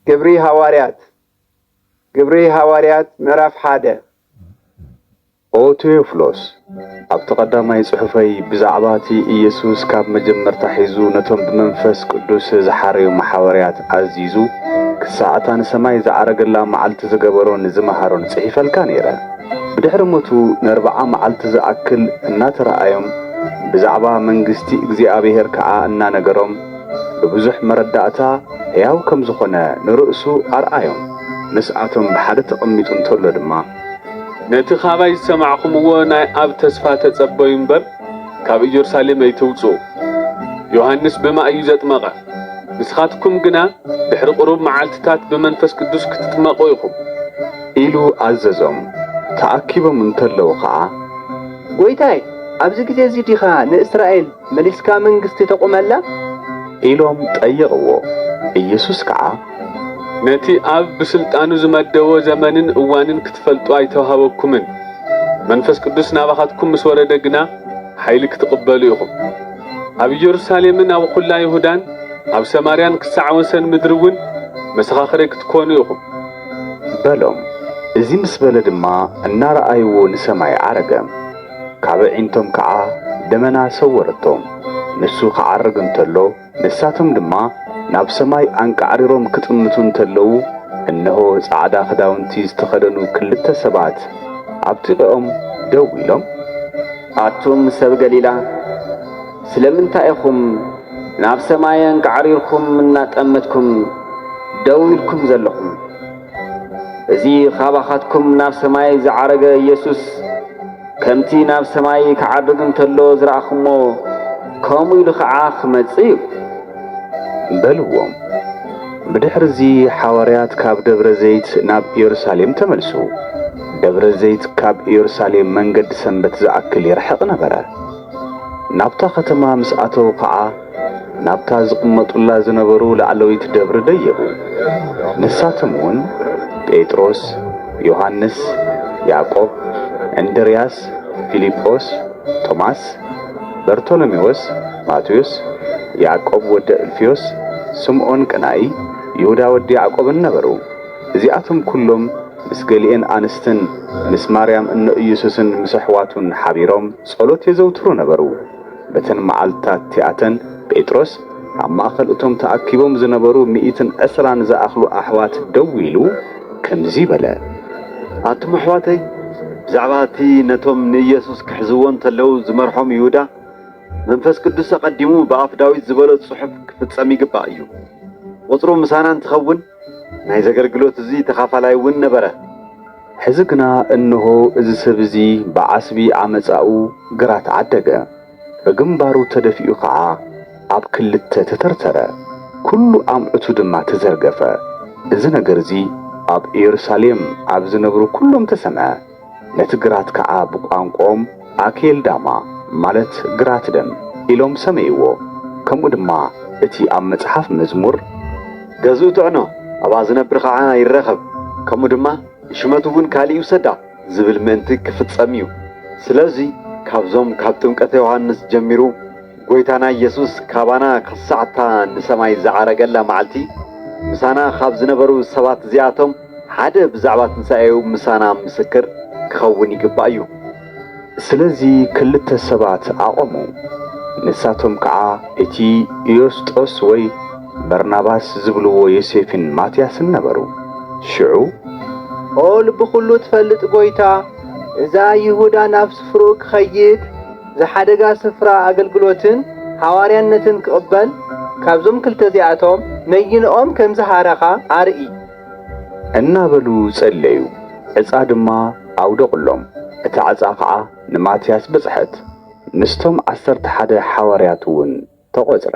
ግብሪ ሃዋርያት ግብሪ ሃዋርያት ምዕራፍ ሓደ ኦ ቴዎፍሎስ፣ ኣብቲ ቀዳማይ ጽሑፈይ ብዛዕባ እቲ ኢየሱስ ካብ መጀመርታ ሒዙ ነቶም ብመንፈስ ቅዱስ ዝሓረዮም ሓወርያት ኣዚዙ ክሳዕ እታ ንሰማይ ዝዓረገላ መዓልቲ ዝገበሮን ዝመሃሮን ጽሒፈልካ ነይረ። ብድሕሪ ሞቱ ንኣርብዓ መዓልቲ ዝኣክል እናተረኣዮም ብዛዕባ መንግስቲ እግዚኣብሔር ከኣ እናነገሮም ብብዙሕ መረዳእታ ሕያው ከም ዝኾነ ንርእሱ ኣርኣዮም፣ ምስኣቶም ብሓደ ተቐሚጡ እንተሎ ድማ። ነቲ ኻባይ ዝሰማዕኹምዎ ናይ ኣብ ተስፋ ተጸበዩ እምበር፣ ካብ ኢየሩሳሌም ኣይትውጽኡ። ዮሃንስ ብማይ እዩ ዘጥመቐ፣ ንስኻትኩም ግና ድሕሪ ቕሩብ መዓልትታት ብመንፈስ ቅዱስ ክትጥመቑ ኢኹም። ኢሉ ኣዘዞም፣ ተኣኪቦም እንተለዉ ኸኣ። ጐይታይ፣ ኣብዚ ጊዜ እዚ ዲኻ ንእስራኤል። መሊስካ መንግስቲ ተቑመላ? ኢሎም ጠየቕዎ። ኢየሱስ ከዓ። ነቲ ኣብ ብስልጣኑ ዝመደቦ ዘመንን እዋንን ክትፈልጡ ኣይተውሃበኩምን፣ መንፈስ ቅዱስ ናባኻትኩም ምስ ወረደ ግና ሓይሊ ክትቕበሉ ኢኹም። ኣብ ኢየሩሳሌምን ኣብ ኹላ ይሁዳን ኣብ ሰማርያን ክሳዕ ወሰን ምድሪውን መሰኻኽረይ ክትኮኑ ኢኹም። በሎም። እዚ ምስ በለ ድማ እናረኣይዎ ንሰማይ ዓረገ። ካብ ኣዒንቶም ከኣ ደመና ሰወረቶም። ንሱ ክዓርግ እንተሎ፣ ንሳቶም ድማ ናብ ሰማይ ኣንቃዕሪሮም ክጥምቱ እንተለዉ፣ እንሆ ጻዕዳ ክዳውንቲ ዝተኸደኑ ክልተ ሰባት ኣብ ጥቐኦም ደው ኢሎም። ኣቱም ሰብ ገሊላ፣ ስለምንታይ ኢኹም ናብ ሰማይ ኣንቃዕሪርኩም እናጠመትኩም ደው ኢልኩም ዘለኹም? እዚ ኻባኻትኩም ናብ ሰማይ ዝዓረገ ኢየሱስ፣ ከምቲ ናብ ሰማይ ክዓርግ እንተሎ ዝረኣኹምዎ፣ ከምኡ ኢሉ ኸዓ ኽመጽእ እዩ። በልዎም። ብድሕርዚ ሓዋርያት ካብ ደብረ ዘይት ናብ ኢየሩሳሌም ተመልሱ። ደብረ ዘይት ካብ ኢየሩሳሌም መንገዲ ሰንበት ዝኣክል ይርሕቕ ነበረ። ናብታ ከተማ ምስ ኣተዉ ኸኣ፣ ናብታ ዝቕመጡላ ዝነበሩ ላዕለዊት ደብሪ ደየቡ። ንሳቶምውን ጴጥሮስ፣ ዮሃንስ፣ ያዕቆብ፣ እንድርያስ፣ ፊልጶስ፣ ቶማስ፣ በርቶሎሜዎስ፣ ማቴዎስ፣ ያዕቆብ ወዲ ኣልፍዮስ፣ ስምዖን ቀናኢ፣ ይሁዳ ወዲ ያዕቆብን ነበሩ። እዚኣቶም ኩሎም ምስ ገሊኤን ኣንስትን ምስ ማርያም እኖ ኢየሱስን ምስ ኣሕዋቱን ሓቢሮም ጸሎት የዘውትሩ ነበሩ። በተን መዓልትታት እቲኣተን ጴጥሮስ ኣብ ማእከል እቶም ተኣኪቦም ዝነበሩ ሚእትን ዕስራን ዝኣኽሉ ኣሕዋት ደው ኢሉ ከምዚ በለ። ኣቱም ኣሕዋተይ፣ ብዛዕባ እቲ ነቶም ንኢየሱስ ክሕዝዎ እንተለዉ ዝመርሖም ይሁዳ፣ መንፈስ ቅዱስ ኣቐዲሙ ብኣፍ ዳዊት ዝበሎ ጽሑፍ ክፍጸም ይግባእ እዩ። ቍጽሩ ምሳና እንትኸውን፣ ናይ ዘገልግሎት እዚ ተኻፋላይ እውን ነበረ። ሕዚ ግና እንሆ እዚ ሰብ እዚ ብዓስቢ ዓመጻኡ ግራት ዓደገ፣ ብግንባሩ ተደፊኡ ኸዓ ኣብ ክልተ ተተርተረ፣ ኵሉ ኣምዑቱ ድማ ተዘርገፈ፣ እዚ ነገር እዚ ኣብ ኢየሩሳሌም ኣብ ዝነብሩ ኵሎም ተሰምዐ። ነቲ ግራት ከኣ ብቋንቁኦም ኣኬልዳማ ማለት ግራት ደም ኢሎም ሰመይዎ ከምኡ ድማ እቲ ኣብ መጽሓፍ መዝሙር። ገዝኡ ጥዕኖ ኣብኣ ዝነብር ኸኣ ይረኸብ ከምኡ ድማ ንሽመቱውን ካልእ ይውሰዳ ዝብል ምእንቲ ክፍጸም እዩ ስለዚ ካብዞም ካብ ጥምቀተ ዮሓንስ ጀሚሩ ጎይታና ኢየሱስ ካባና ኽሳዕ እታ ንሰማይ ዝዓረገላ መዓልቲ ምሳና ኻብ ዝነበሩ ሰባት እዚኣቶም ሓደ ብዛዕባ ትንሳኤኡ ምሳና ምስክር ኪኸውን ይግባእ እዩ። ስለዚ ክልተ ሰባት ኣቘሙ፣ ንሳቶም ከኣ እቲ ዩስጦስ ወይ በርናባስ ዚብልዎ ዮሴፍን ማትያስን ነበሩ። ሽዑ። ኦ ልቢ ዅሉ እትፈልጥ ጐይታ፣ እዛ ይሁዳ ናብ ስፍርኡ ኪኸይድ፣ ዝሓደጋ ስፍራ ኣገልግሎትን ሃዋርያነትን ኪቕበል፣ ካብዞም ክልተ እዚኣቶም ነይንኦም ከም ዝሃረኻ ኣርኢ። እናበሉ ጸለዩ። ዕጻ ድማ ኣውደቑሎም፣ እታ ዕጻ ኸኣ ንማትያስ በጽሐት፣ ምስቶም ዓሰርተ ሓደ ሓዋርያትውን ተቖጽረ።